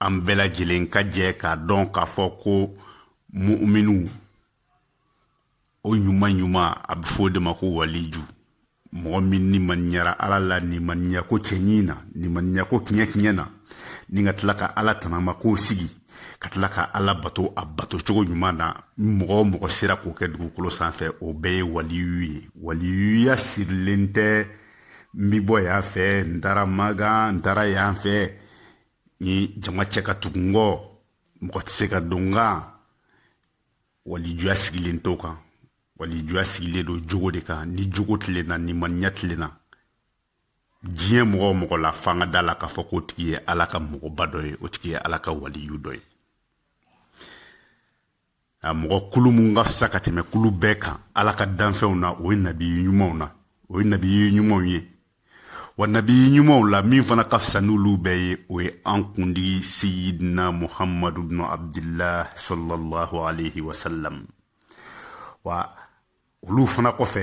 an bɛɛ lajɛlen ka jɛ k'a dɔn k'a fɔ ko mu'minu o ɲuman ɲuman a bɛ fɔ o de ma ko waliju mɔgɔ min nimaniyara ala la nimaniya ko cɛɲi na nimaniya ko kiɲɛ kiɲɛ na ni ka tila ka ala tanama ko sigi ka tila ka ala bato a bato cogo ɲuman na mɔgɔ o mɔgɔ sera k'o kɛ dugukolo sanfɛ o bɛɛ ye waliyu ye waliyuya sirilen tɛ n bi bɔ yan fɛ n taara makan n taara yan fɛ ni jama cɛ ka tugu n kɔ mɔgɔ tɛ se ka don n kan walijuya sigilen t'o kan walijuya sigilen don jogo de kan ni jogo tilenna nimaniya tilenna diɲɛ mɔgɔ o mɔgɔ la f'an ka da a la k'a fɔ k'o tigi ye ala ka mɔgɔba dɔ ye o tigi ye ala ka waliyu dɔ ye a mɔgɔ kulu mun ka fisa ka tɛmɛ kulu bɛɛ kan ala ka danfɛnw na o ye nabiyi ɲumanw na o ye nabiyi ɲumanw ye wa nabiyi ɲumanw la min fana ka fisa n'olu bɛɛ ye o ye an kuntigi seyidina muhamadu bnu abdillah sallallahu alaihi wasallam wa olu fana kɔfɛ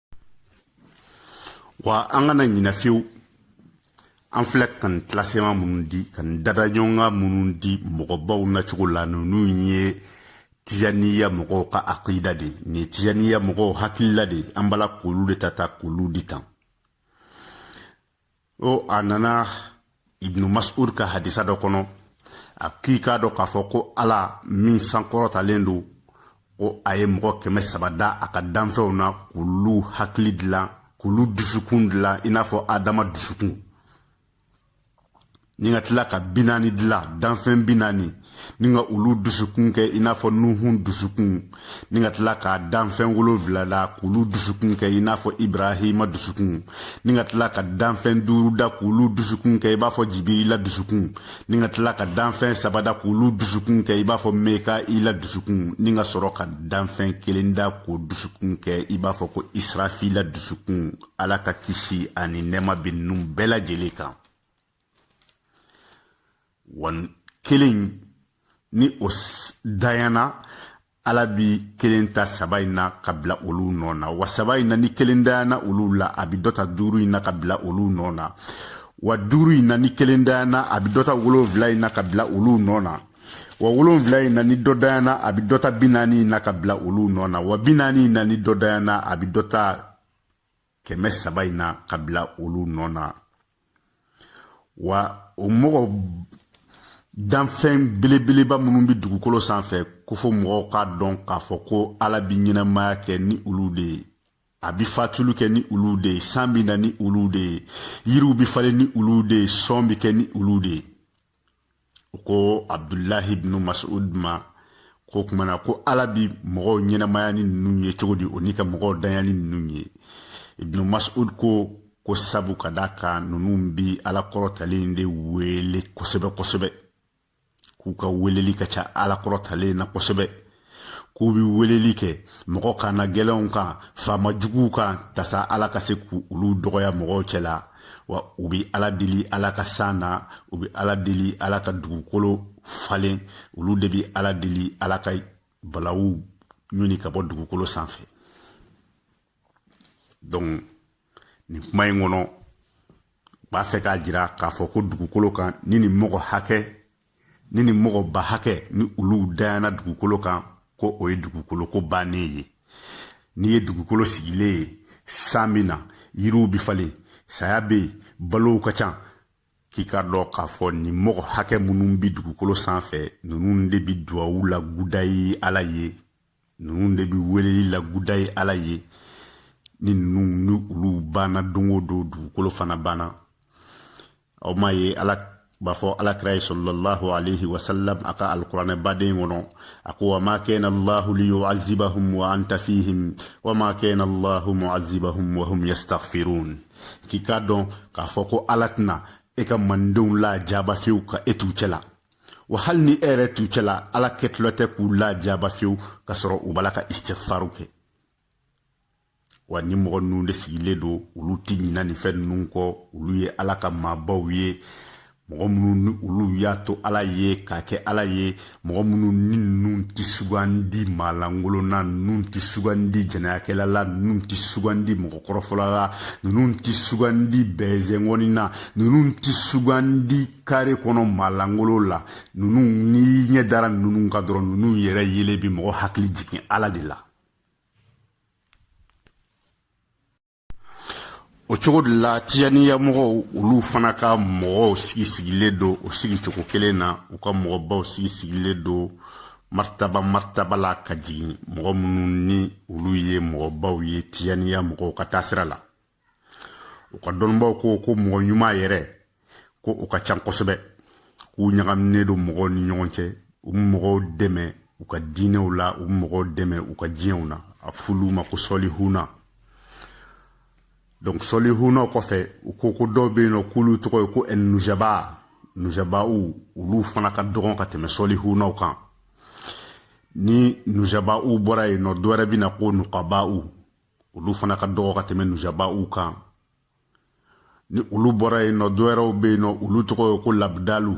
wa an kana ɲinɛ fiyewu an filɛ ka nin classement minnu di ka nin dadaɲɔgɔnkan minnu di mɔgɔbaw na cogo la ninnu ye tijaniya mɔgɔw ka akida de nin ye tijaniya mɔgɔw hakilila de an b'a la k'olu de ta ta k'olu di tan o a nana ibnu mas'ud ka hadisa dɔ kɔnɔ a k'i k'a dɔn k'a fɔ ko ala min sankɔrɔtalen don ko a ye mɔgɔ kɛmɛ saba da a ka danfɛnw na k'olu hakili dilan k'olu dusukun dilan i n'a fɔ adama dusukun ni ka tila ka bi naani dilan danfɛn bi naani ni ka olu dusukun kɛ i n'a fɔ nuhun dusukun ni ka tila ka danfɛn wolonwula da k'olu dusukun kɛ i n'a fɔ ibrahima dusukun ni ka tila ka danfɛn duuru da k'olu dusukun kɛ i b'a fɔ jibirila dusukun ni ka tila ka danfɛn saba da k'olu dusukun kɛ i b'a fɔ mekaila dusukun ni ka sɔrɔ ka danfɛn kelen da k'o dusukun kɛ i b'a fɔ ko israfila dusukun ala ka kisi ani nɛɛma bɛ ninnu bɛɛ lajɛlen kan wa kelen ni o dayana ala bi kelen ta saba in na ka bila olu nɔ na wa saba in na ni kelen dayana olu la a bi dɔ ta duuru in na ka bila olu nɔ na wa duuru in na ni kelen dayana a bi dɔ ta wolonfila in na ka bila olu nɔ na wa wolonfila in na ni dɔ dayana a bi dɔ ta bi naani in na ka bila olu nɔ na wa bi naani in na ni dɔ dayana a bi dɔ ta kɛmɛ saba in na ka bila olu nɔ na wa o mɔgɔ danfɛn belebeleba minnu bɛ dugukolo sanfɛ ko fo mɔgɔw k'a dɔn k'a fɔ ko ala bɛ ɲɛnamaya kɛ ni olu de ye a bɛ fatuli kɛ ni olu de ye san bɛ na ni olu de ye yiriw bɛ falen ni olu de ye sɔn bɛ kɛ ni olu de ye ko abdulahi ibnu masud ma ko kumana ko ala bi mɔgɔw ɲɛnamaya ni ninnu ye cogo di o ni ka mɔgɔw danya ni ninnu ye ibnu masud ko ko sabu ka da kan ninnu bi ala kɔrɔtalen de wele kosɛbɛ kosɛbɛ k'u ka weleli ka ca ala kɔrɔtalen na kosɛbɛ k'u bɛ weleli kɛ mɔgɔ kannagɛlɛnw kan faama juguw kan tasa ala ka se k'olu dɔgɔya mɔgɔw cɛ la wa u bɛ ala deli ala ka san na u bɛ ala deli ala ka dugukolo falen olu de bɛ ala deli ala ka balawu ɲɔni ka bɔ dugukolo sanfɛ donc nin kuma in kɔnɔ b'a fɛ k'a jira k'a fɔ ko dugukolo kan ni nin mɔgɔ hakɛ ni nin mɔgɔba hakɛ ni olu dayana dugukolo kan ko o ye dugukolo ko bannen ye n'i ye dugukolo sigilen ye san bi na yiriw bɛ falen saya bɛ yen balow ka ca k'i k'a dɔn k'a fɔ nin mɔgɔ hakɛ minnu bɛ dugukolo sanfɛ ninnu de bɛ duwawu lakuraya ala ye ninnu de bɛ weleli lakuraya ala ye ni ninnu ni olu banna don o don dugukolo fana banna aw m'a ye ala b'a fɔ ala kira ye salalahu alayhi wa sallam a ka alikuranɛ baden kɔnɔ a ko wa ma kana allahu li yu'azibahum wa anta fihim wa ma kana allahu mu'azibahum wa hum yastaghfirun k'i k'a dɔn k'a fɔ ko ala tɛna e ka mantɔnw lajaba fewu ka e t'u cɛla wa hali ni e yɛrɛ t'u cɛla ala kɛtɔlen tɛ k'u lajaba fewu ka sɔrɔ u b'a la ka istighfaru kɛ wa nin mɔgɔ ninnu de sigilen don olu ti ɲina nin fɛn ninnu kɔ olu ye ala ka maabaw ye mɔgɔ minnu ni olu y'a to ala ye k'a kɛ ala ye mɔgɔ minnu ni ninnu ti sugandi maalankolon na ninnu ti sugandi jɛnɛyakɛla la ninnu ti sugandi mɔgɔkɔrɔfɔla la ninnu ti sugandi bɛɛzɛngɔni na ninnu ti sugandi kare kɔnɔ maalankolo la ninnu n'i ɲɛ dara ninnu kan dɔrɔn ninnu yɛrɛ yelen bi mɔgɔ hakili jigin ala de la o cogo de la tijaniya mɔgɔw olu fana ka mɔgɔw sigi sigilen don o sigi cogo kelen na u ka mɔgɔbaw sigi sigilen don martaba martaba la ka jigin mɔgɔ minnu ni olu ye mɔgɔbaw ye tijaniya mɔgɔw ka taasira la u ka dɔnnibaw ko ko mɔgɔ ɲuman yɛrɛ ko u ka can kosɛbɛ k'u ɲagaminen don mɔgɔw ni ɲɔgɔn cɛ u bɛ mɔgɔw dɛmɛ u ka diinɛw la u bɛ mɔgɔw dɛmɛ u ka diɲɛw na a f'olu ma ko sɔlihuna donc sɔlihuna kɔfɛ u ko ko dɔw bɛ yen nɔ k'olu tɔgɔ ye ko ɛnujaba nujabaw olu fana ka dɔgɔn ka tɛmɛ sɔlihunaw kan ni nujabaw bɔra yen nɔ dɔwɛrɛ bɛ na ko nukabaw olu fana ka dɔgɔ ka tɛmɛ nujaba u kan ni olu bɔra yen nɔ dɔ wɛrɛw bɛ yen nɔ olu tɔgɔ ye ko labidalu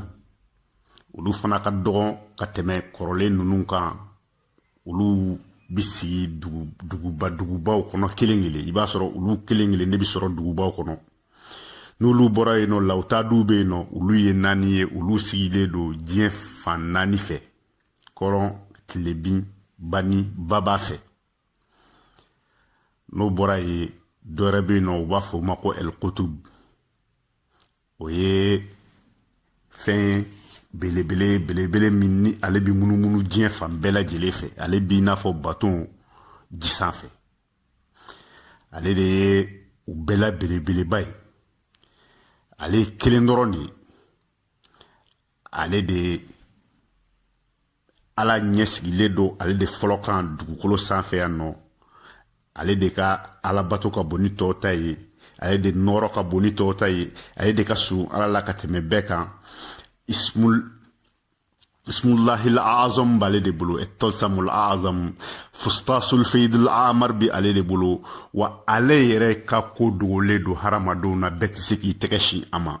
olu fana ka dɔgɔn ka tɛmɛ kɔrɔlen ninnu kan olu bi sigi duguba dugubaw kɔnɔ kelen kelen i b'a sɔrɔ olu kelen kelen de bɛ sɔrɔ dugubaw kɔnɔ n'olu bɔra yen nɔ lawutaduw bɛ yen nɔ olu ye naani ye olu sigilen don diɲɛ fan naani fɛ kɔrɔn tilebin bani baba fɛ n'o bɔra yen dɔ wɛrɛ bɛ yen nɔ u b'a fɔ o ma ko ɛlikotub o ye fɛn belebele belebele min ni ale bɛ munumunu diɲɛ fan bɛɛ lajɛlen fɛ ale b'i n'a fɔ baton ji sanfɛ ale de ye u bɛɛ la belebeleba ye ale ye kelen dɔrɔn de ye ale de ala ɲɛ sigilen don ale de fɔlɔ kan dugukolo sanfɛ yan nɔ ale de ka alabato ka bon ni tɔw ta ye ale de nɔrɔ ka bon ni tɔw ta ye ale de ka surun ala la ka tɛmɛ bɛɛ kan ismul ismullahil azam b'ale de bolo etolsamul azam fustasul feyidul amar bi ale de bolo wa ale yɛrɛ ka ko dogolen don hadamadenw na bɛɛ tɛ se k'i tɛgɛ sin a ma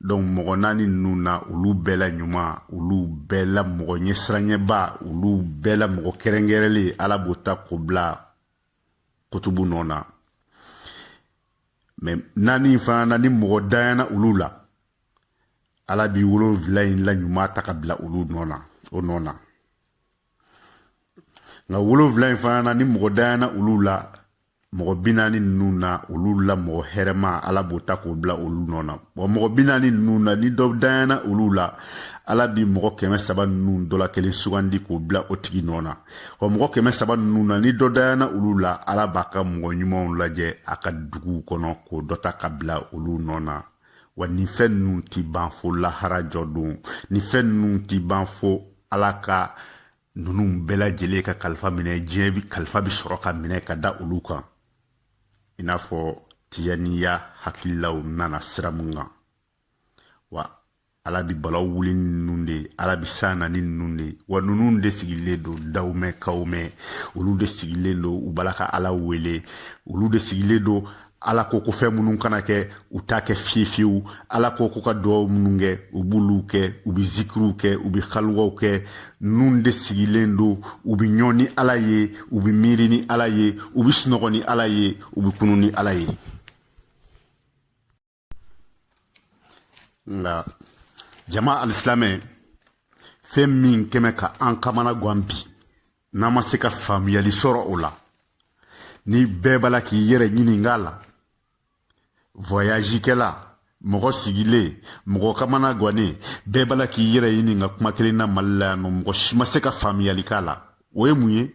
donc mɔgɔ naani ninnu na olu bɛɛ la ɲuman olu bɛɛ la mɔgɔ ɲɛsiranyɛba olu bɛɛ la mɔgɔ kɛrɛnkɛrɛnlen ala b'o ta k'o bila kutubu nɔ na mais naani fana na ni mɔgɔ danyana olu la ala bi wolonfila in la ɲuman ta ka bila olu nɔ na o nɔ na nka wolonfila in fana na ni mɔgɔ danyana olu la mɔgɔ bi naani ninnu na olu la mɔgɔ hɛrɛma ala b'o ta k'o bila olu nɔ na wa mɔgɔ bi naani ninnu na ni dɔ danyana olu la ala bi mɔgɔ kɛmɛ saba ninnu dɔ la kelen sugandi k'o bila o tigi nɔ na wa mɔgɔ kɛmɛ saba ninnu na ni dɔ danyana olu la ala b'a ka mɔgɔ ɲumanw lajɛ a ka duguw kɔnɔ k'o dɔ ta ka bila olu nɔ na wa nin fɛn ninnu ti ban fo lahara jɔ don nin fɛn ninnu ti ban fo ala ka ninnu bɛɛ lajɛlen ka kalifa minɛ diɲɛ bi kalifa bi sɔrɔ ka minɛ ka da olu kan i n'a fɔ tijaniya hakililaw nana sira mun kan wa ala bi balaw wuli ni ninnu de ye ala bi san na ni ninnu de ye wa ninnu de sigilen don dawmɛn kawmɛn olu de sigilen don u b'a la ka ala wele olu de sigilen don ala ko ko fɛn minnu kana kɛ u t'a kɛ fiye fiyewu ala ko ko ka duwaw minnu kɛ u b'olu kɛ u be zikiriw kɛ u be haluwaw kɛ ninnu de sigilen don u be ɲɔn ni ala ye u be miiri ni ala ye u be sunɔgɔ ni ala ye u be kunun ni ala ye nka jama alisilamɛ fɛn min kɛmɛ ka an kamana gan bi n'an ma se ka faamuyali sɔrɔ o la ni bɛɛ b'a la k'i yɛrɛ ɲininka la vɔyazikɛla mɔgɔ sigilen mɔgɔ kamana gannen bɛɛ b'a la k'i yɛrɛ ɲininka kuma kelen na mali la yan nɔ mɔgɔ si ma se ka faamuyali k'a la o ye mun ye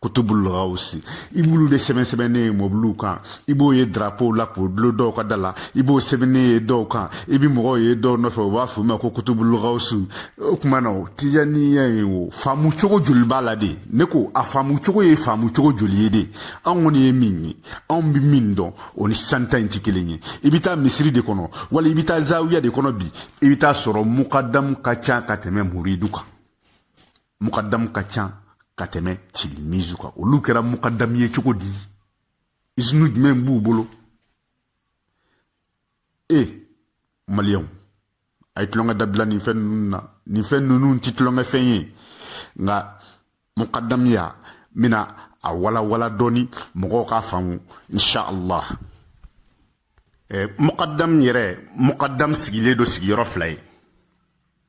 kutubul gawusi i b'olu de sɛbɛn sɛbɛnnen ye mɔbiliw kan i b'o ye darapow la k'o dulon dɔw ka da la i b'o sɛbɛnnen ye dɔw kan i bɛ mɔgɔw ye dɔw nɔfɛ u b'a f'u ma ko kutubul gawusi o tuma na o tijaniya ye o faamu cogo joli b'a la de ne ko a faamu cogo ye faamu cogo joli ye de anw kɔni ye min ye anw bɛ min dɔn o ni san ta in tɛ kelen ye i bɛ taa misiri de kɔnɔ wali i bɛ taa zawiya de kɔnɔ bi i bɛ taa sɔrɔ mukadamu ka ca ka tɛmɛ muridu kan mukadamu ka ca ka tɛmɛ tilimizu kan olu kɛra mukadamu ye cogo di izinu jumɛn b'u bolo e maliyɛnw a ye tulonkɛ dabila nin fɛn ninnu na nin fɛn ninnu tɛ tulonkɛ fɛn ye nka mukadamuya n bɛna a walawala dɔɔni mɔgɔw k'a faamu insha allah eh, mukadam yɛrɛ mukadam sigilen don sigiyɔrɔ fila ye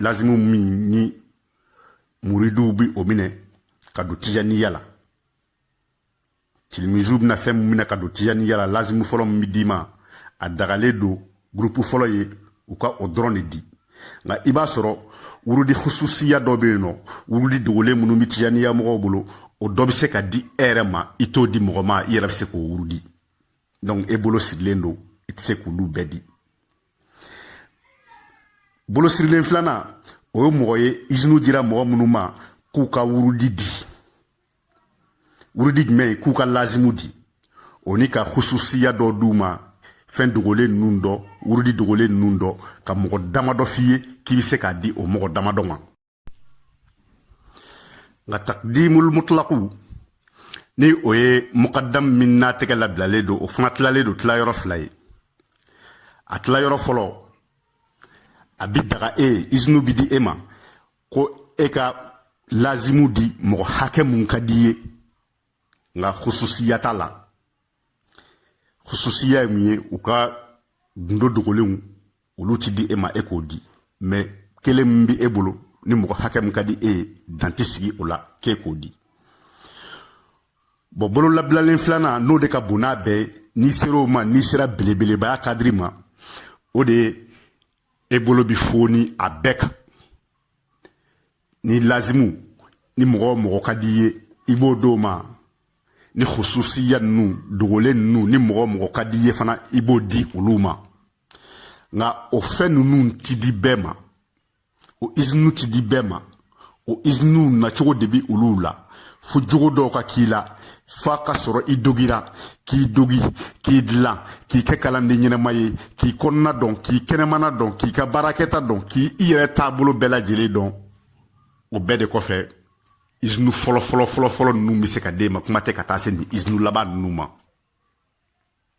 lazimu min ni muriduw bi o minɛ ka don tijaniya la tilimizuw bɛna fɛn min minɛ ka don tijaniya la lazimu fɔlɔ min bi d'i ma a dagalen don gurupu fɔlɔ ye u ka o dɔrɔn de di nka i b'a sɔrɔ wurudi hususiya dɔ bɛ yen nɔ wurudi dogolen minnu bɛ tijaniya mɔgɔw bolo o dɔ bɛ se ka di e yɛrɛ ma i t'o di mɔgɔ ma i yɛrɛ bɛ se k'o wurudi donc e bolo sirilen don i tɛ se k'olu bɛɛ di bolo sirilen filanan o ye mɔgɔ ye izinu dira mɔgɔ minnu ma k'u ka wurudi di wurudi jumɛn k'u ka lazimu di o ni ka hususiya dɔ d'u ma fɛn dogolen ninnu dɔ wurudi dogolen ninnu dɔ ka mɔgɔ damadɔ f'i ye k'i bɛ se k'a di o mɔgɔ damadɔ ma nka takdimul mutlaku ni o ye mukadam min n'a tɛgɛ labilalen don o fana tilalen don tilayɔrɔ fila ye a tilayɔrɔ fɔlɔ a bi daga e ye izinu bi di e ma ko e ka lazimu di mɔgɔ hakɛ mun ka d'i ye nka hususiya t'a la hususiya ye mun ye u ka gundo dogolenw olu ti di e ma e k'o di mais kelen min bɛ e bolo ni mɔgɔ hakɛ min ka di e ye dan tɛ sigi o la k'e k'o di bon bololabilalen filanan n'o de ka bon n'a bɛɛ ye n'i sera o ma n'i sera belebelebaya kadiri ma o de ye e bolo bi foni a bɛɛ kan ni lazimu ni mɔgɔ o mɔgɔ ka d'i ye i b'o d'o ma ni hususiya ninnu dogolen ninnu ni mɔgɔ o mɔgɔ ka d'i ye fana i b'o di olu ma nka o fɛn ninnu ti di bɛɛ ma o izinuw ti di bɛɛ ma o izinuw nacogo de bi olu la fo jogo dɔw ka k'i la f'a ka sɔrɔ i dogira k'i dogi k'i dilan k'i kɛ kalanden ɲɛnama ye k'i kɔnɔna dɔn k'i kɛnɛmana dɔn k'i ka baarakɛta dɔn k'i i yɛrɛ taabolo bɛɛ lajɛlen dɔn o bɛɛ de kɔfɛ izinu fɔlɔ fɔlɔ fɔlɔ fɔlɔ ninnu bɛ se ka d'e ma kuma tɛ ka taa se nin izinu laban ninnu ma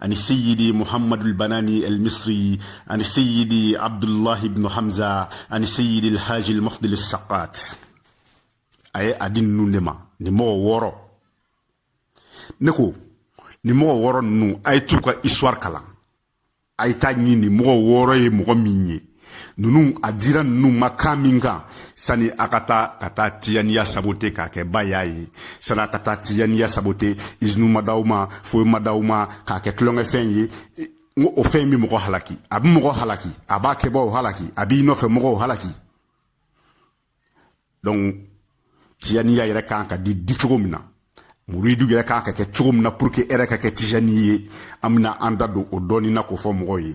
ani seyidi muhammadu albanani almisri ani seyidi abdullahi ibnu hamza ani seyidi alhaji almafdil alsaqat a ye a di ninnu de ma nin mɔgɔ wɔɔrɔ ne ko nin mɔgɔ wɔɔrɔ ninnu a ye t'u ka histoire kalan a ye t'a ɲini nin mɔgɔ wɔɔrɔ ye mɔgɔ min ye ninnu a dira ninnu ma kan min kan sani a ka taa ka taa tijaniya sabote k'a kɛ ba y'a ye sani a ka taa tijaniya sabote izinu ma d'aw ma foyi ma d'aw ma k'a kɛ tulonkɛfɛn ye n ko o fɛn in bɛ mɔgɔ halaki a bɛ mɔgɔ halaki a b'a kɛbaaw halaki a b'i nɔfɛ mɔgɔw halaki donc tijaniya yɛrɛ kan ka di di cogo min na muridu yɛrɛ kan ka kɛ cogo min na pour que e yɛrɛ ka kɛ tijani ye an bɛna an da don o dɔɔnin na k'o fɔ mɔgɔw ye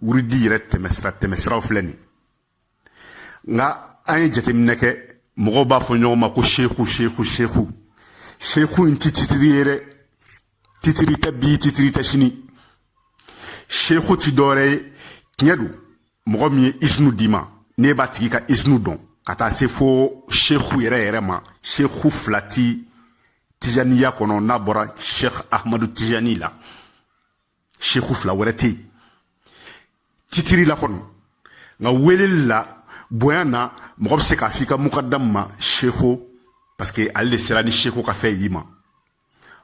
wurudi yɛrɛ tɛmɛsira tɛmɛsiraw filɛ nin nka an ye jateminɛ kɛ mɔgɔw b'a fɔ ɲɔgɔn ma ko seku seku seku seku in ti titiri ye dɛ titiri tɛ bi titiri tɛ sini seku ti dɔwɛrɛ ye tiɲɛ don mɔgɔ min ye isinu d'i ma n'e b'a tigi ka isinu dɔn ka taa se fo seku yɛrɛ yɛrɛ ma seku fila ti tijaniya kɔnɔ n'a bɔra sheikh ahmadu tijani la seku fila wɛrɛ tɛ yen titiri la kɔni nka weleli la bonya na mɔgɔ bɛ se k'a f'i ka mukadamu ma seku parce que ale de sera ni seku ka fɛn y'i ma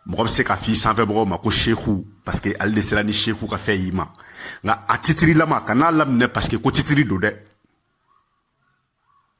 mɔgɔ bɛ se k'a f'i sanfɛbagaw ma ko seku parce que ale de sera ni seku ka fɛn y'i ma nka a titirilama kan'a laminɛ parce que ko titiri don dɛ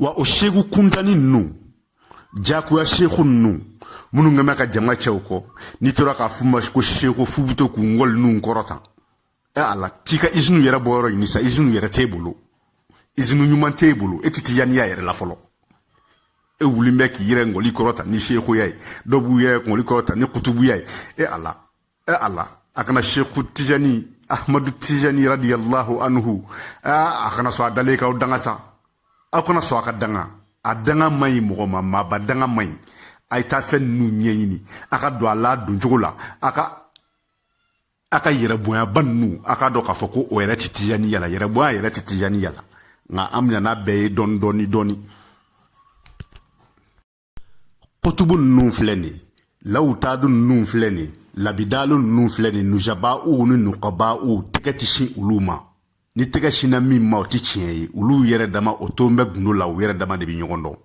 wa o seku kuntani ninnu jagoya seku ninnu minnu kɛ bɛ ka jama cɛ u kɔ n'i tora k'a f'u ma ko seku f'u bɛ to k'u ngɔli ninnu kɔrɔta ɛ ala t'i ka izinu yɛrɛ bɔyɔrɔ ɲini sa izinu yɛrɛ t'e bolo izinu ɲuman t'e bolo e ti tijaniya yɛrɛ la fɔlɔ e wulilen bɛ k'i yɛrɛ ngɔli kɔrɔta ni sekuya ye dɔw b'u yɛrɛ ngɔli kɔrɔta ni kutubuya ye e ala e a la a kana seku tijani ahmadu tijani radiyallahu anhu e, a kana sɔn a dalen k'aw danga sa aw kana sɔn a ka danga a danga man ɲi mɔgɔ ma maaba danga man ɲi a ye taa fɛn ninnu ɲɛɲini a ka don a la don cogo la a ka a ka yɛrɛ bonyaba ninnu a k'a dɔn k'a fɔ ko o yɛrɛ tɛ tijaniya la yɛrɛ bonya yɛrɛ tɛ tijaniya la nka an bɛna n'a bɛɛ ye dɔɔni dɔɔni dɔɔni kutubu ninnu filɛ nin ye lawutadu ninnu filɛ nin ye labidalu ninnu filɛ nin ye nujaba'u ni nukaba'u tɛgɛ ti sin olu ma ni tɛgɛ sinna min ma o ti tiɲɛ ye olu yɛrɛ dama o tolen bɛ gundo la u yɛrɛ dama de bɛ ɲɔgɔn dɔn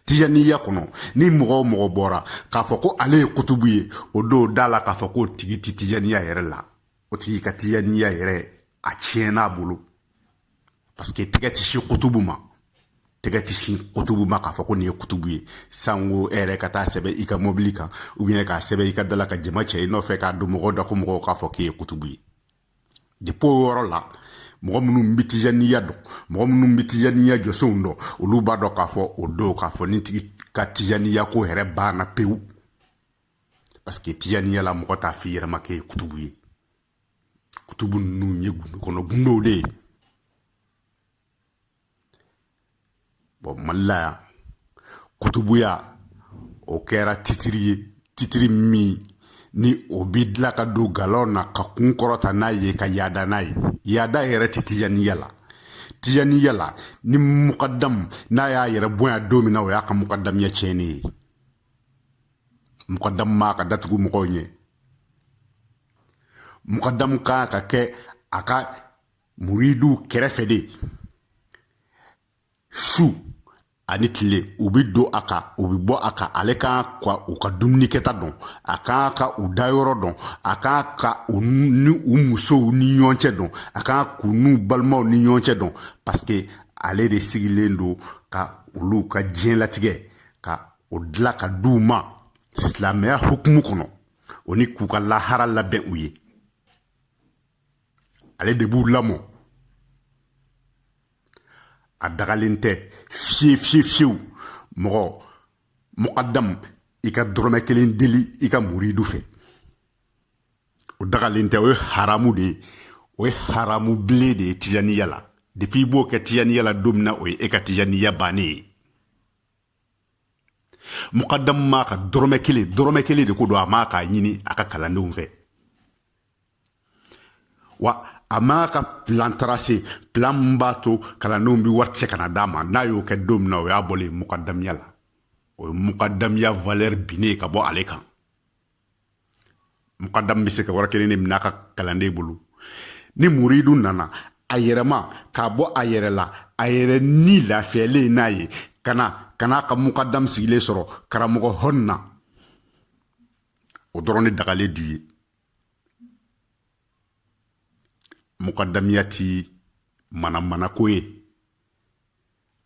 tijaniya kɔnɔ ni mɔgɔ o mɔgɔ bɔra k'a fɔ ko ale ye kutubu ye o don d'a la k'a fɔ k'o tigi ti tijaniya yɛrɛ la o tigi ka tijaniya yɛrɛ a tiɲɛn'a bolo paseke tɛgɛ ti sin kutubu ma tɛgɛ ti sin kutubu ma k'a fɔ ko nin ye kutubu ye sanko e yɛrɛ ka taa sɛbɛn i ka mobili kan k'a sɛbɛn i ka da la ka jama cɛ i nɔfɛ k'a don mɔgɔw da ko mɔgɔw k'a fɔ k'i ye kutubu ye depi o yɔrɔ la mɔgɔ minnu bɛ tijaniya dɔn mɔgɔ minnu bɛ tijaniya jɔsenw dɔn olu b'a dɔn k'a fɔ o don k'a fɔ nin tigi ka tijaniya ko yɛrɛ banna pewu paseke tijaniya la mɔgɔ t'a f'i yɛrɛ ma k'e ye kutubu ye kutubu ninnu ye gundo kɔnɔ gundow de ye bɔn mali la yan kutubuya o kɛra titiri ye titiri min ni o bi dilan ka don galon na ka kun kɔrɔta n'a ye ka yaada n'a ye yaada yɛrɛ tɛ tijaniya la tijaniya la ni mukadamu n'a y'a yɛrɛ bonya don min na o y'a ka mukadamiya tiɲɛni ye mukadamu man kan ka da tugu mɔgɔw ɲɛ mukadamu ka kan ka kɛ a ka muridiw kɛrɛfɛ de su ani tile u bɛ don a kan u bɛ bɔ a kan ale ka kan ka u ka dumuni kɛta dɔn a ka kan ka u dayɔrɔ dɔn a ka kan ka u ni u musow ni ɲɔgɔn cɛ dɔn a ka kan k'u n'u balimaw ni ɲɔgɔn cɛ dɔn paseke ale de sigilen don ka olu ka diɲɛlatigɛ ka o dilan ka di u ma silamɛya hukumu kɔnɔ o ni k'u ka lahara labɛn u ye ale de b'u lamɔ a dagalen tɛ fiye fiye fiyewu mɔgɔ mukadamu i ka dɔrɔmɛ kelen deli i ka muridu fɛ o dagalen tɛ o ye haramu de ye o ye haramu bilen de ye tijaniya la depi i b'o kɛ tijaniya la don min na o ye e ka tijaniya bannen ye mukadamu man kan ka dɔrɔmɛ kelen dɔrɔmɛ kelen de ko don a man kan k'a ɲini a ka kalandenw fɛ wa a man kan ka pilan tarase pilan min b'a to kalandenw bɛ wari cɛ ka na d'a ma n'a y'o kɛ don min na o y'a bɔlen ye mukadamiya la o ye mukadamiya valɛri binnen ka bɔ ale kan mukadam bɛ se ka wari kelen de minɛ a ka kalanden bolo ni muridu nana a yɛrɛma k'a bɔ a yɛrɛ la a yɛrɛ ni lafiyalen n'a ye ka na ka n'a ka mukadam sigilen sɔrɔ karamɔgɔ hɔn na o dɔrɔn de dagalen d'u ye mukadamiya ti manamanako ye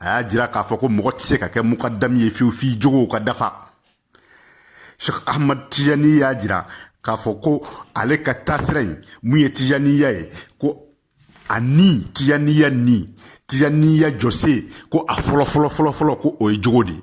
a y'a jira k'a fɔ ko mɔgɔ tɛ se ka kɛ mukadamu ye fiyewu f'i jogow ka dafa sheikh ahmad tijani y'a jira k'a fɔ ko ale ka taasira in mun ye tijaniya ye ko a ni tijaniya ni tijaniya jɔse ko a fɔlɔ fɔlɔ fɔlɔ fɔlɔ ko o ye jogo de ye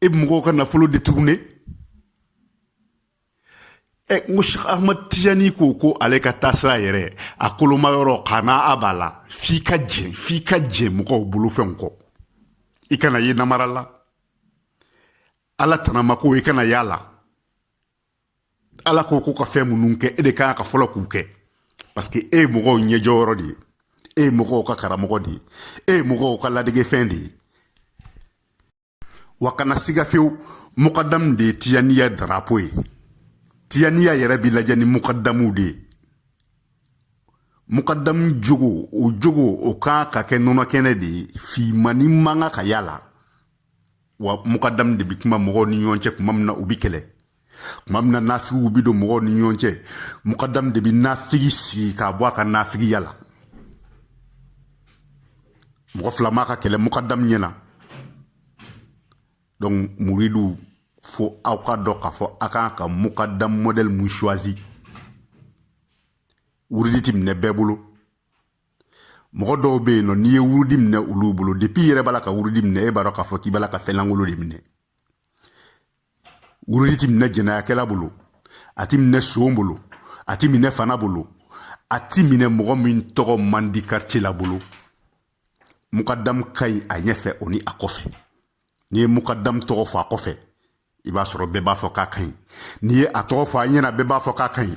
e bɛ mɔgɔw ka nafolo détourner n ko sheikh ahmad tijani ko ko ale ka taasira yɛrɛ a koloma yɔrɔ k'a n'a a b'a la f'i ka jɛn f'i ka jɛn mɔgɔw bolofɛnw kɔ i kana ye namara la ala tanamako i kana y'a la ala ko k'u ka fɛn minnu kɛ e de kan ka fɔlɔ k'u kɛ parce que e ye mɔgɔw ɲɛjɔyɔrɔ de ye e ye mɔgɔw ka karamɔgɔ de ye e ye mɔgɔw ka ladegefɛn de ye wa kana siga fewu mukadamu de ye tijaniya darapo ye tijaniya yɛrɛ bi lajɛ ni mukadamuw de ye mukadamu jogo o jogo o kan ka kɛ nɔnɔkɛnɛ de ye finmannin man kan ka y'a la wa mukadamu de bɛ kuma mɔgɔw ni ɲɔgɔn cɛ tuma min na u bɛ kɛlɛ tuma min na nafigiw bɛ don mɔgɔw ni ɲɔgɔn cɛ mukadamu de bɛ nafigi sigi k'a bɔ a ka nafigiya la mɔgɔ fila man ka kɛlɛ mukadamu ɲɛ na donc muriduw fo aw k'a dɔn k'a fɔ a kan ka mukadamu modɛli mun choisi wurudi tɛ minɛ bɛɛ bolo mɔgɔ dɔw bɛ yen nɔ n'i ye wurudi minɛ olu bolo depuis i yɛrɛ b'a la ka wurudi minɛ e b'a dɔn k'a fɔ k'i b'a la ka fɛn lankolon de minɛ wurudi ti minɛ jɛnɛyakɛla bolo a ti minɛ son bolo a ti minɛ fana bolo a ti minɛ mɔgɔ min tɔgɔ man di quartier la bolo mukadamu ka ɲi a ɲɛfɛ o ni a kɔfɛ n'i ye mukadamu tɔgɔ fɔ a kɔfɛ i b'a sɔrɔ bɛɛ b'a fɔ k'a ka ɲi n'i ye a tɔgɔ fɔ a ɲɛna bɛɛ b'a fɔ k'a ka ɲi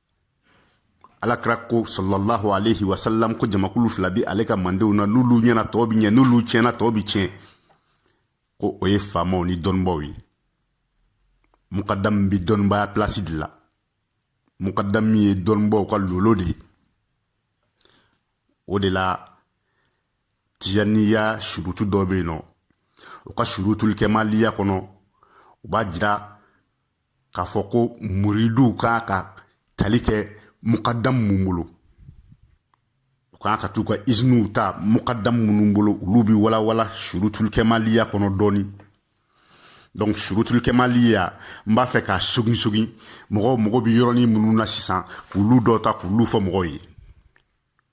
ala kira ko salalahu alehi wasalam ko jamakulu fila bi ale ka mandenw na n'olu ɲɛna tɔw bi ɲɛ n'olu tiɲɛna tɔw bi tiɲɛ ko o ye faamaw ni dɔnnibaaw ye mukadamu bi dɔnnibaya pilasi de la mukadamu ye dɔnnibaaw ka lolo de ye o de la tijaniya surutu dɔ bɛ yen nɔ u ka surutul kɛmaliya kɔnɔ u b'a jira k'a fɔ ko muriduw kan ka tali kɛ mukadamu mun bolo u kan ka t'u ka iziniw ta mukadamu minnu bolo olu bɛ walawala surutulikɛmaliya kɔnɔ dɔɔnin donc surutulikɛmaliya n b'a fɛ k'a sogin sogin mɔgɔw mago bɛ yɔrɔnin minnu na sisan k'olu dɔ ta k'olu fɔ mɔgɔw ye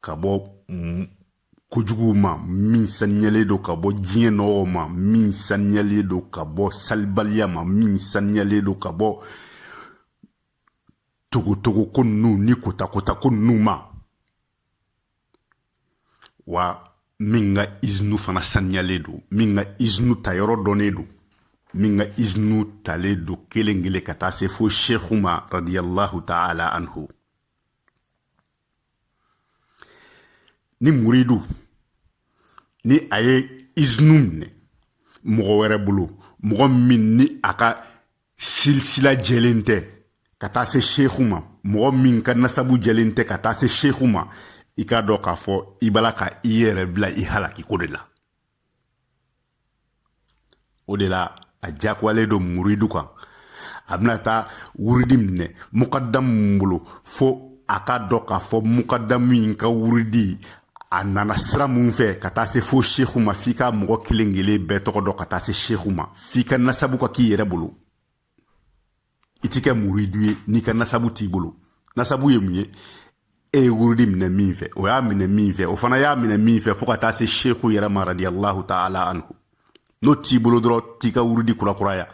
ka bɔ kojuguw ma min saniyalen don ka bɔ diɲɛ nɔgɔw ma min saniyalen don ka bɔ salibaliya ma min saniyalen don ka bɔ togotogo ko ninnu ni kotakota ko ninnu ma wa min ka izinu fana saniyalen don min ka izinu ta yɔrɔ dɔnnen don min ka izinu talen don kelen kelen ka taa se fo shehu ma radiyallahu ta'ala anhu ni muridu ni a ye izinu minɛ mɔgɔ wɛrɛ bolo mɔgɔ min ni a ka silisila jɛlen tɛ ka taa se seku ma mɔgɔ min ka nasabu jɛlen tɛ ka taa se seku ma i k'a dɔn k'a fɔ i b'a la ka i yɛrɛ bila i halakiko de la o de la a diyagoyalen don muridu kan a bɛna taa wurudi minɛ mukadamu min bolo fo a k'a dɔn k'a fɔ mukadamu in ka wurudi a nana sira mun fɛ ka taa se fo seku ma f'i ka mɔgɔ kelen kelen bɛɛ tɔgɔ dɔn ka taa se seku ma f'i ka nasabu ka k'i yɛrɛ bolo i ti kɛ muridu ye n'i ka nasabu t'i bolo nasabu ye mun ye e ye wurudi minɛ min fɛ o y'a minɛ min fɛ o fana y'a minɛ min fɛ fo ka taa se seku yɛrɛ ma radiyallahu taala anhu n'o t'i bolo dɔrɔn t'i ka wurudi kurakuraya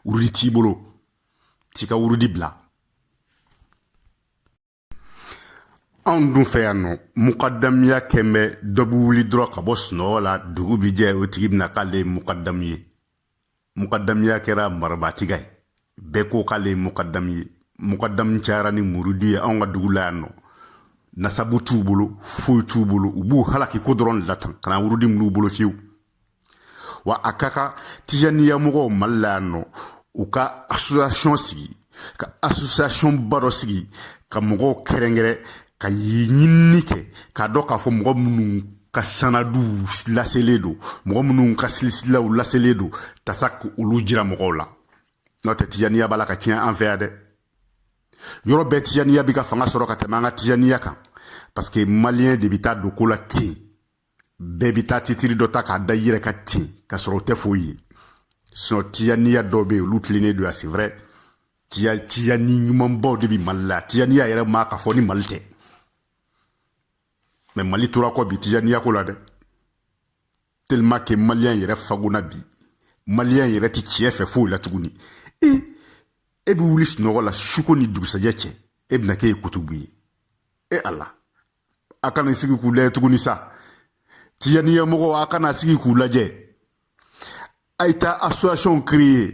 wurudi t'i bolo t'i ka wurudi bila anw dun fɛ yan nɔ mukadamiya kɛlen bɛ dɔ bɛ wuli dɔrɔn ka bɔ sunɔgɔ la dugu bi jɛ o tigi bɛ na k'ale ye mukadamu ye mukadamiya kɛra marabatiga ye bɛɛ ko k'ale ye mukadamu ye mukadamu cayara ni muridu ye anw ka dugu la yan nɔ nasabu t'u bolo foyi t'u bolo u b'u halaki ko dɔrɔn de la tan kana wurudi min'u bolo fiyewu wa a ka kan tijaniya mɔgɔw mali la yan nɔ u ka asosiyasiyɔn sigi ka asosiyasiyɔn ba dɔ sigi ka mɔgɔw kɛrɛnkɛrɛn ka ɲinini kɛ k'a dɔn k'a fɔ mɔgɔ minnu ka sanadu laselen don mɔgɔ minnu ka silisilaw laselen don tasa ka olu jira mɔgɔw la n'o tɛ tijaniya b'a la ka tiɲɛ an fɛ yan dɛ yɔrɔ bɛɛ tijaniya bɛ ka fanga sɔrɔ ka tɛmɛ an ka tijaniya kan paseke maliyɛn de bɛ taa don ko la ten bɛɛ bɛ taa titiri dɔ ta k'a da i yɛrɛ kan ten ka sɔrɔ o tɛ foyi ye sinon tijaniya dɔw bɛ yen olu tilennen don yan c'est vrai tijani ɲumanbaw de bɛ mali la tijaniya yɛrɛ ma ka fɔ ni mali tɛ mais mali tora kɔ bi tijaniya ko la dɛ tellement que maliyɛn yɛrɛ fagona bi maliyɛn yɛrɛ ti tiɲɛ fɛ foyi la tuguni e e bɛ wuli sunɔgɔ la suko ni dugusajɛ cɛ e bɛna k'e ye kutubu ye e ala a kana sigi k'u lajɛ tuguni sa tijaniya mɔgɔw a kana sigi k'u lajɛ a ye taa association créer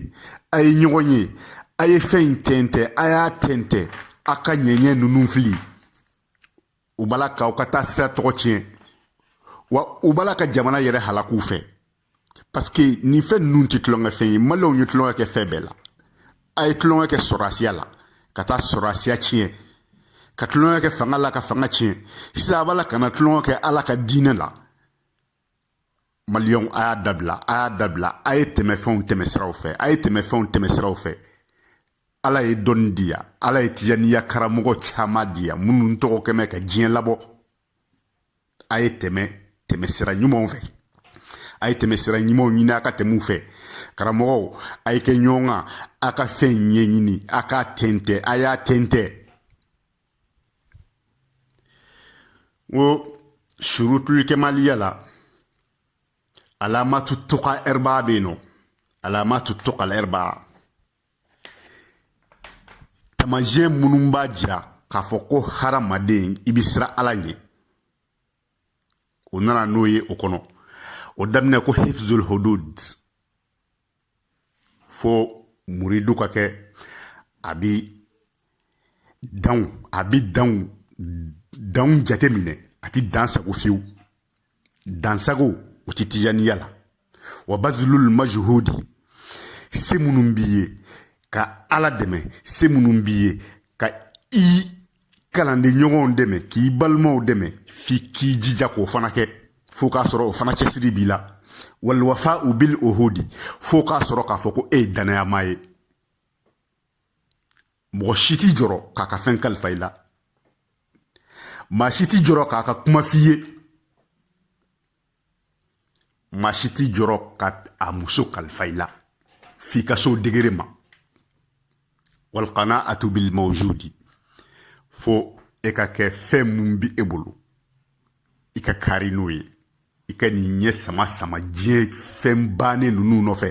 a ye ɲɔgɔn ye a ye fɛn in tɛntɛn a y'a tɛntɛn a ka ɲɛɲɛ ninnu fili u b'a la k'aw ka taasira tɔgɔ tiɲɛ wa u b'a la ka jamana yɛrɛ halaku fɛ parce que nin fɛn ninnu tɛ tulonkɛ fɛn ye maliyɛnw ye tulonkɛ kɛ fɛn bɛɛ la a ye tulonkɛ kɛ sɔrɔsiya la ka taa sɔrɔsiya tiɲɛ ka tulonkɛ kɛ fanga la ka fanga tiɲɛ sisan a b'a la ka na tulonkɛ kɛ ala ka diinɛ la maliyɛnw a y'a dabila a y'a dabila a ye tɛmɛ fɛnw tɛmɛ siraw fɛ a ye tɛmɛ fɛnw tɛmɛ siraw fɛ ala ye dɔnni di yan ala ye tijaniya karamɔgɔ caman di yan minnu tɔgɔ kɛmɛ ka diɲɛ labɔ a ye tɛmɛ tɛmɛ sira ɲumanw fɛ a ye tɛmɛ sira ɲumanw ɲini a ka tɛmɛ u fɛ karamɔgɔw a ye kɛ ɲɔgɔn kan a ka fɛn ɲɛɲini a k'a tɛntɛn a y'a tɛntɛn n ko surutul kamaliya la alamatu tuqa arba bɛ yen nɔ alamatu tuqa arba Tamasiyɛn minnu b'a jira k'a fɔ ko hadamaden i bɛ siran ala ɲɛ o nana n'o ye o kɔnɔ o daminɛ ko hifzul hudud fo muridu ka kɛ a bi danw a bi danw danw jate minɛ a ti dansago fiyewu dansago o ti tijaniya la wa bazlul majhudi se minnu b'i ye ka ala dɛmɛ se minnu b'i ye ka i kalanden ɲɔgɔnw dɛmɛ k'i balimaw dɛmɛ f'i k'i jija k'o fana kɛ fo k'a sɔrɔ o fana cɛsiri b'i la walwafau bil ohodi fo k'a sɔrɔ k'a fɔ ko e ye dannayamaa ye mɔgɔ si t'i jɔrɔ k'a ka fɛn kalifa i la maa si t'i jɔrɔ k'a ka kuma f'i ye maa si t'i jɔrɔ ka a muso kalifa i la f'i ka so degere ma walkanaatu bil mawjudi fo e ka kɛ fɛn mun bi e bolo i ka kari n'o ye i kan'i ɲɛ sama sama diɲɛ fɛn bannen ninnu nɔfɛ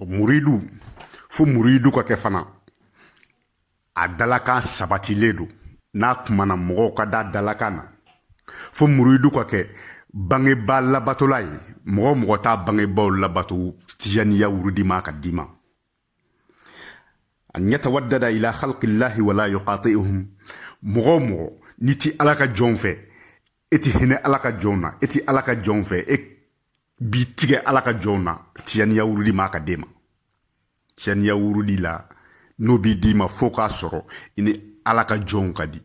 muridu fo muridu ka kɛ fana a dalakan sabatilen don n'a kumana mɔgɔw ka da a dalakan na fo muridu ka kɛ bangebaa labatola ye mɔgɔ o mɔgɔ t'a bangebaaw labato tijaniya wurudi man kan ka d'i ma an yatawaddada ila khalqillahi wala yuqati'uhum mɔgɔ o mɔgɔ n'i ti ala ka jɔnw fɛ e ti hinɛ ala ka jɔnw na e ti ala ka jɔnw fɛ e b'i tigɛ ala ka jɔnw na tijaniya wurudi man kan ka d'e ma tijaniya wurudi la n'o bi d'i ma fo k'a sɔrɔ i ni ala ka jɔnw ka di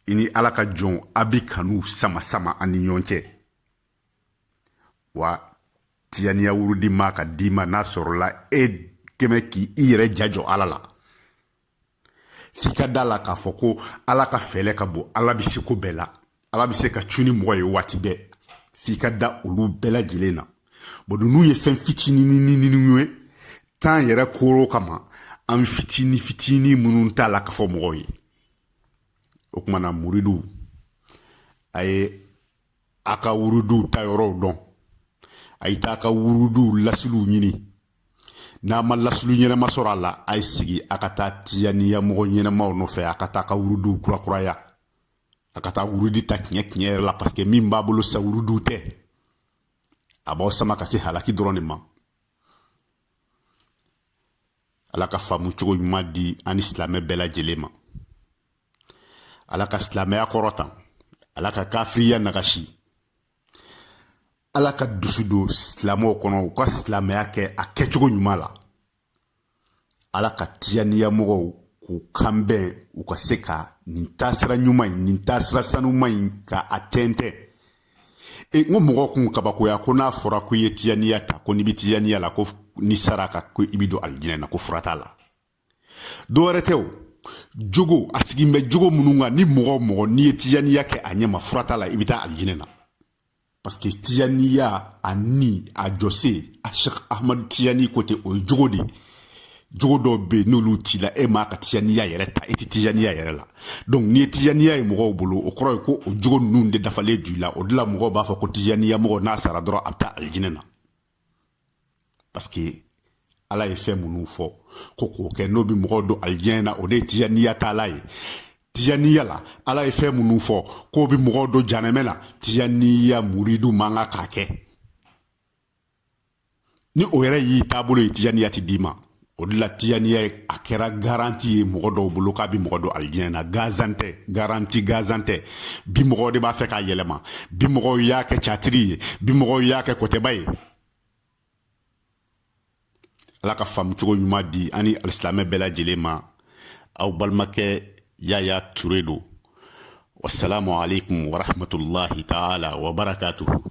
i ni ala ka jɔnw a bi kanu sama sama a ni ɲɔgɔn cɛ wa tiyaniya wurudi man kan ka d'i ma n'a sɔrɔla e kɛmɛ k'i i yɛrɛ jajɔ ala la f'i ka da la k'a fɔ ko ala ka fɛɛlɛ ka bon ala bɛ se ko bɛɛ la ala bɛ se ka cu ni mɔgɔ ye waati bɛɛ f'i ka da olu bɛɛ lajɛlen na bɔn ninnu ye fɛn fitinininininw ye tan yɛrɛ koro kama an bi fitini fitini minnu ta a la k'a fɔ mɔgɔw ye o kumana muridiw a ye a ka wuruduw ta yɔrɔw dɔn a ye taa a ka wuruduw lasiliw ɲini n'a ma lasili ɲɛnama sɔrɔ a la a ye sigi a ka taa tiyaniya mɔgɔ ɲɛnamaw nɔfɛ a ka taa a ka wuruduw kurakuraya a ka taa wurudi ta tiɲɛ tiɲɛ yɛrɛ la paseke min b'a bolo sa wuruduw tɛ a b'aw sama ka se halaki dɔrɔn de ma ala ka faamu cogo ɲuman di an ni silamɛ bɛɛ lajɛlen ma ala ka silamɛya kɔrɔta ala ka kafiriya nagasi ala ka dusu don silamɛw kɔnɔ u ka silamɛya kɛ a kɛcogo ɲuman la ala ka tiyaniya mɔgɔw k'u kanbɛn u ka se ka nin taasira ɲuman in nin taasira sanuman in ka a tɛntɛn e n ko mɔgɔ kun kabakoya ko n'a fɔra ko i ye tiyaniya ta ko n'i bɛ tiyaniya la ko n'i sara ka ko i bɛ don alijinɛ na ko fura t'a la dɔ wɛrɛ tɛ o jogo a sigilen bɛ jogo minnu kan ni mɔgɔ o mɔgɔ n'i ye tijaniya kɛ a ɲɛma fura t'a la i bɛ taa alijinɛ na paseke tijaniya a ni a jɔsen a sɛk ahmadu tijani ko ten o ye jogo de ye jogo dɔw bɛ yen n'olu t'i la e man kan ka tijaniya yɛrɛ ta i tɛ tijaniya yɛrɛ la dɔnki n'i ye tijaniya ye mɔgɔw bolo o kɔrɔ ye ko o jogo ninnu de dafalen don i la o de la mɔgɔw b'a fɔ ko tijaniya mɔgɔ n'a sara dɔrɔn a bɛ taa alijinɛ na paske ala ye fɛn minnu fɔ ko k'o kɛ n'o bɛ mɔgɔw don alijinɛ na o de ye tijaniya taala ye tijaniya la ala ye fɛn minnu fɔ k'o bɛ mɔgɔw don janɛmɛ na tijaniya muridu man kan k'a kɛ ni o yɛrɛ y'i taabolo ye tijaniya ti d'i ma o de la tijaniya ye a kɛra garanti ye mɔgɔ dɔw bolo k'a bi mɔgɔ don alijinɛ na ganzan tɛ garanti ganzan tɛ bi mɔgɔw de b'a fɛ k'a yɛlɛma bi mɔgɔw y'a kɛ catiri ye bi mɔgɔw y'a kɛ kɔtɛba ye ala ka faamu cogo ɲuman di an ni alisilamɛ bɛɛ lajɛlen ma aw balimakɛ yaya ture don wasalamu aleykum warahmatulahi taala wabarakatuhu